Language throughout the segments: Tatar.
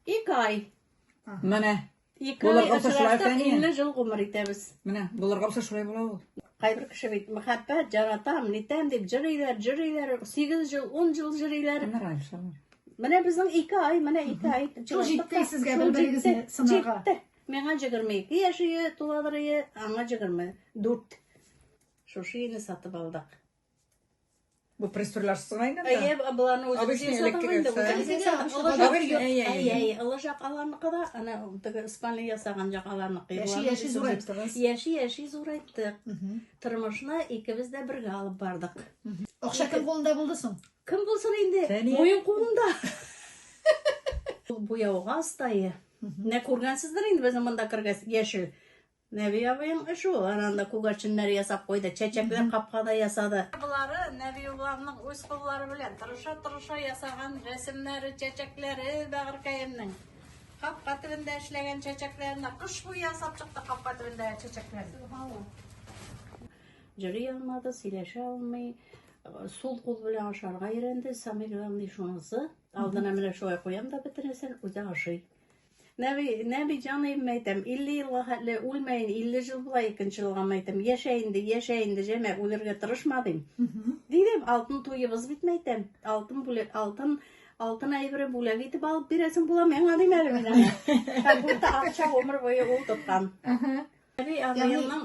Ике ай. Менә. Ике ай Булырга булса шулай очраштык, икән, 50 жыл гомер итәбез. Менә булырга булса шулай була ул. Кайбер кеше бит мәхәббәт, жаратам, нитәм дип җырыйлар, җырыйлар, 8 жыл, 10 жыл җырыйлар. Менә Раишалар. Менә безнең ике ай, менә ике ай. Шул җитте сезгә Шул бер-берегезне җитте, сынарга. Җитте. Миңа 22 яшь ие, туладыр ие, аңа 24. Шушы өйне сатып алдык. Бу пресурлар сыгайны да. Әйе, буланы үзе. Обычный электрик. Әйе, олы жак аларныкы да, ана теге спальня ясаган жак аларныкы. Яши, яши зурайттыгыз. Яши, яши зурайттык. Тормышны икебез дә бергә алып бардык. Акча кем кулында булды соң? Кем булсын инде? Моем кулында. Бу яуга астайы. Нә күргәнсездер инде безнең монда кергәс яшел. Нәби абыең эш ул, анда күгәрченнәр ясап куйды, чәчәкләр капкада ясады. Болары Нәби абыеңның үз куллары белән тырыша-тырыша ясаган рәсемнәре, чәчәкләре бәгырькәемнең. Капка төбендә эшләгән чәчәкләренә кыш буе ясап чыкты капка төбендә чәчәкләр. Җыри алмады, сөйләшә алмый, сул кул белән ашарга өйрәнде, самый главный шунысы. Алдына менә шулай куям да бөтенесен, үзе ашый. Нәби, Нәби җаныем мәйтәм, 50 елга хәтле үлмәен, 50 жыл була икенче елга мәйтәм, яшә инде, яшә инде, җәмә, үлергә тырышма дим. Дидем, алтын туебыз бит мәйтәм, алтын бүләк, алтын алтын әйбере бүләк итеп алып бирәсең була миңа дим әле мин аңа. Как будто акча гомер буе ул тоткан. Нәби абыемның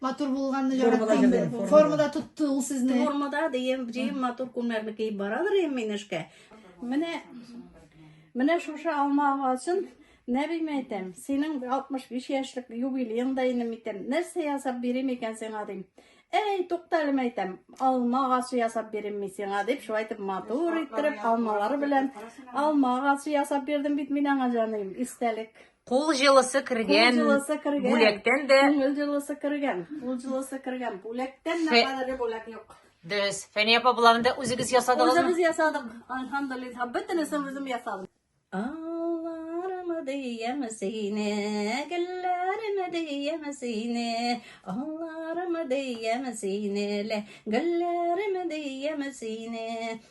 Матур булганны яратам. Формада тотты ул сезне. Формада дигән җыем матур күннәрне киеп барадыр ем мин эшкә. Менә менә шушы алма агасын Нәбим әйтәм, синең 65 яшьлек юбилееңда инде микән? Нәрсә ясап бирим икән сиңа дим. Әй, тукталем әйтәм, алма агасы ясап бирим мин сиңа дип, шулай итеп матур иттереп, алмалары белән алма агасы ясап бирдем бит мин аңа җаным, истәлек. Кул җылысы кергән. Кул җылысы кергән. Бүләктән дә. Күңел җылысы кергән. Кул җылысы кергән. Бүләктән дә кадәрле бүләк юк. Дөрес. Фәния апа боларны да үзегез ясадыгызмы? Үзебез ясадык. Альхамдулилла. Бөтенесен үзем ясадым. Алларымы диям сине, гөлләремә диям сине, алларымы диям сине, гөлләремә диям сине,